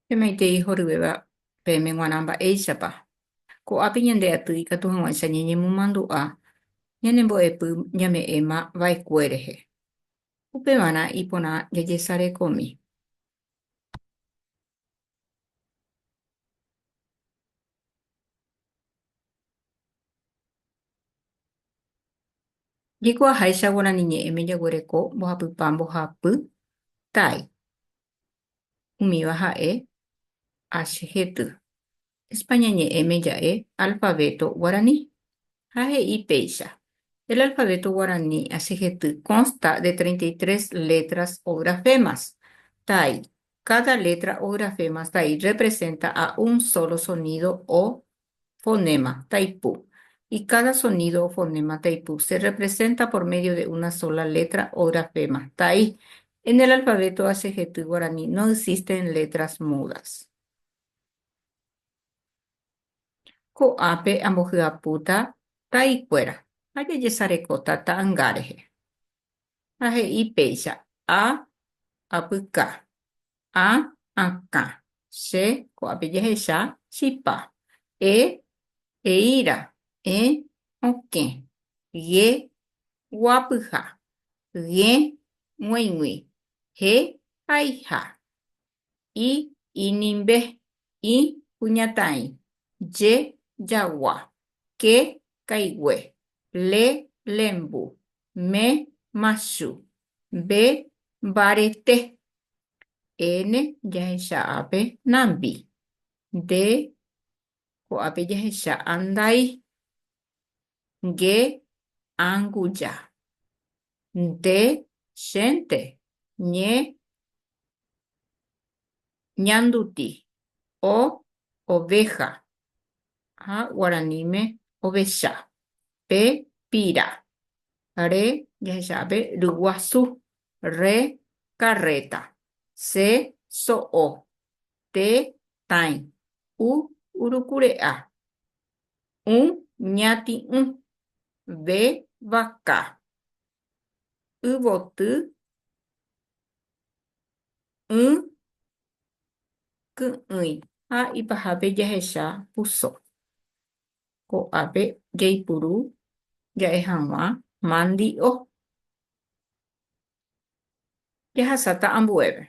Pemaitei horyvéva peẽme g̃uarã mba'éichapa. Ko'ápe ñande aty ikatu hag̃uáicha ñañemomandu'a ñane mbo'epy ñame'ẽma vaekue rehe. Upevarã iporã jajesarekómi. Jeiko aháicha guarani ñe'ẽme jaguereko mbohapypa mbohapy tái. Umíva ha'e H hety. España ñe'ẽme ja'e alfavéto guarani, ha he'i péicha, El alfabeto guaraní asehety consta de treinta y tres letras o grafemas, tai, Cada letra o grafema tai representa a un solo sonido o fonema, taipu, y cada sonido o fonema, taipu, se representa por medio de una sola letra o grafema, tai, En el alfabeto asehety guarani no existen letras mudas. Ko'ápe ambohyapúta taikuéra ha jajesarekóta ta'anga rehe. Ha he'i péicha, A, apyka, A, akã, che ko'ápe jahecha chipa, E, eíra, E, okẽ, G, guapyha, G, g̃uaig̃ui, G, haiha, i, inimbe, ĩ, kuñataĩ, je, jagua, ke, kaigue, le, lembu, me, machu, mbe, mbarete, ene, jahecha ápe, nambi, nde, ko'ápe jahecha, andai, nge anguja. Nde chénte ñe ñanduti o oveja, ha guaraníme ovecha, pe pira, re jahecha'ape ryguasu, re karréta, se so'o, te tãi, u urukure'a, ũ ñati'ũ, ve vaka, yvoty, ỹ ky'ỹi. Ha ipahápe jahecha puso. Ko'ápe jaipuru ja'e hag̃ua mandi'o. Jahasáta ambuépe.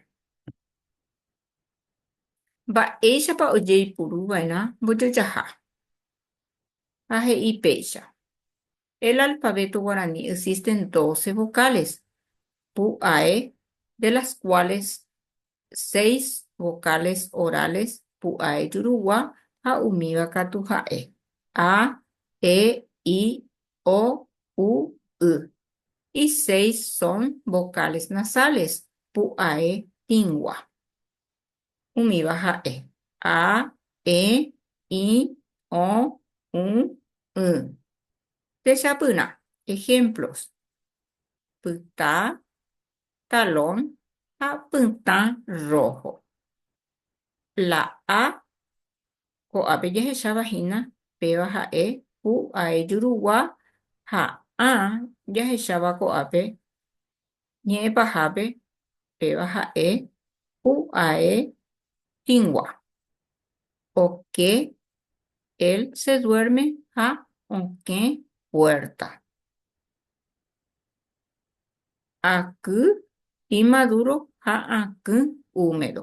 Mba'éichapa ojeipuru va'erã mbojojaha? Ha he'i péicha, El alfabeto guaraní existen doce vocales, pu'ae, de las cuales seis vocales orales, pu'ae jurugua ha umíva katu ha'e, a, e, i, o, u, y, y seis son vocales nasales, pu'ae tĩgua. Umíva ha'e, a, e, i, o, u, y. Techapyrã ejemplos, pyta, talón ha pytã rojo. La a Ko'ápe jahecháva hína péva ha'e pu ae jurugua ha ã jahecháva ko'ápe ñe'ẽ pahápe péva ha'e pu ae tĩgua. Oke, él se duerme ha okẽ puerta. Aky imaduro ha akỹ úmedo.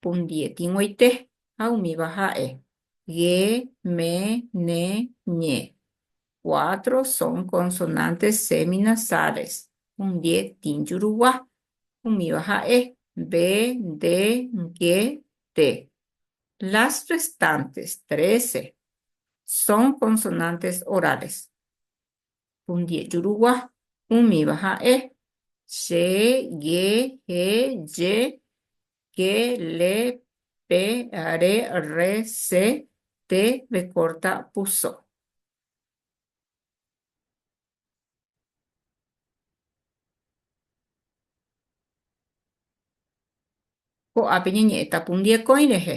pundie tĩguoite ha umíva ha'e, ge, me, ne, ñe. Cuatro son consonantes seminasales, pundie tĩjurugua, umíva ha'e, be, nde, nge, te. Las restantes, trece, son consonantes orales, Pundiejuruguá, umíva ha'e, se, ge, he, je, ke, le, pe, are, rre, se, te, vekórta, puso. Ko'ápe ñañe'ẽta pundiekõi rehe.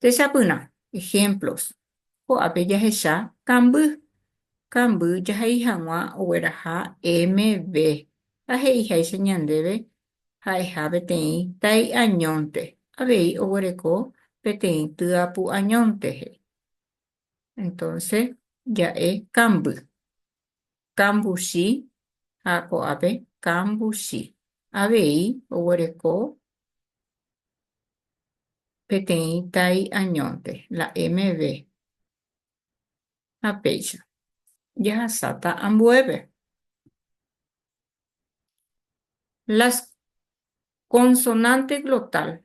Techapyrã ehémplos. Ko'ápe jahecha kamby. Kamby jahai hag̃ua ogueraha MV. Ha he'iháicha ñandéve ha'eha peteĩ tai añónte, avei oguereko peteĩ tyapu añónte, he'i. Entonce, ja'e kamby. Kambuchi ha ko'ápe kambuchi. Avei oguereko peteĩ tai añónte, la MV. Ha péicha, jahasáta ambuépe. Las consonantes glotal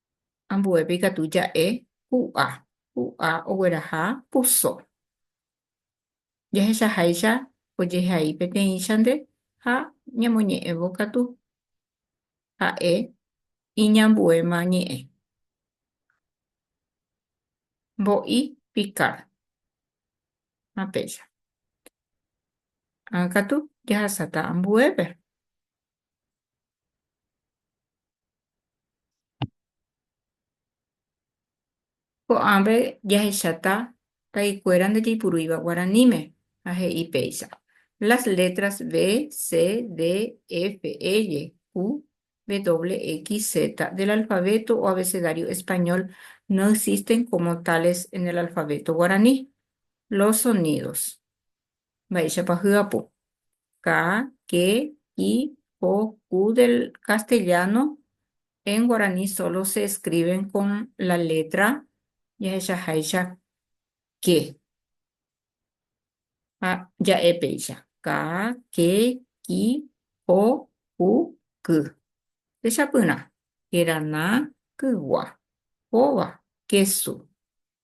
ambuépe ikatu ja'e hu'a, hu'a ogueraha puso. Jahechaháicha ojehai peteĩchante ha ñamoñe'ẽvo katu ha'e iñambuéma ñe'ẽ. Mbo'i Picard ha péicha. Ág̃akatu jahasáta ambuépe. Ko'ãve jahechata taikuéra ndajaipurúiva guaraníme ha he'i péicha, Las letras B, C, D, F, L, Q, W, X, Z del alfabeto o abecedario español no existen como tales en el alfabeto guaraní. Los sonidos. Mba'éichapa hyapu. ka, ke, ki, ko, ku del castellano, en guaraní sólo se escriben con la letra jahechaháicha ke. Ha ja'e péicha, ka, ke, ki, ko, ku, ky. Techapyrã, kerana, kygua, kóva, kesu.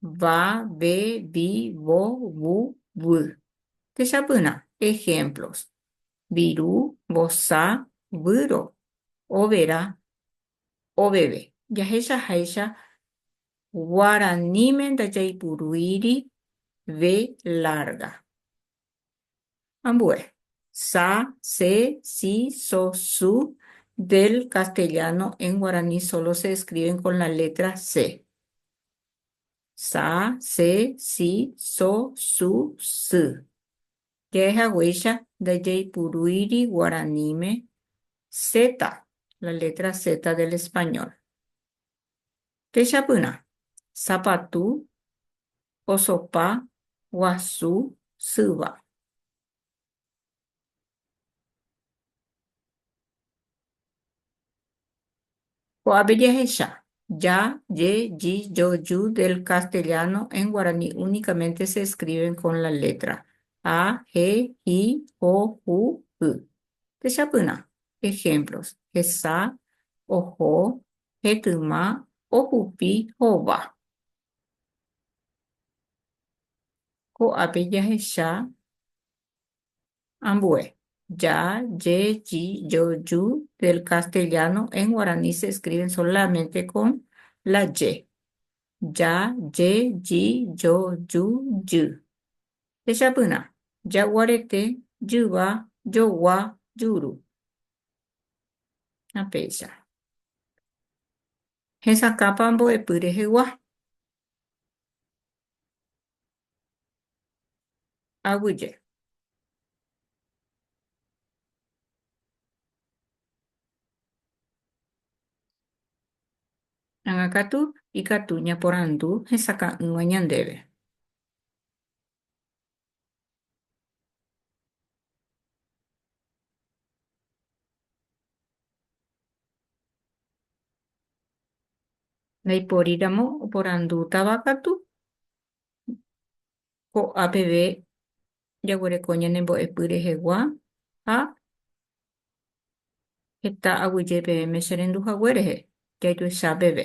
va, ve, vi, vo, vu, vy. Techapyrã ehémplos, viru, vosa, vyro, overa, oveve. Jahechaháicha guaraníme ndajaipurúiri ve lárga. Ambue, sa, se, si, so, su, del castellano, en guaraní solo se escriben con la letra se. Sa, se, si, so, su, sy. Jahecháguicha ndajaipurúiri guaraníme zeta, la letra zeta del español. Techapyrã, sapatu, osopa, guasu, syva. Ko'ápe jahecha, ya, ye, yi, yo, yu del castellano en guaraní únicamente se escriben con la letra, a, he, hi, ho, hu, y. Techapyrã, ejemplos, hesa, oho, hetyma ohupi hova. Ko'ápe jahecha ambue ya, ye, yi, yo, yu del castellano en guaraní se escriben solamente con la ye, ya, ye, yi, yo, yu, jy. Techapyrã, jaguarete, jyva, jogua, juru. Ha péicha. Hesakãpa mbo'epy rehegua. Aguyje. Ág̃akatu ikatu ñaporandu hesakã'ỹva ñandéve. Ndaiporíramo oporandútava katu, ko'a peve jaguereko ñanembo'epy rehegua ha heta aguyje peẽme cherendu hague rehe, jaijoecha peve.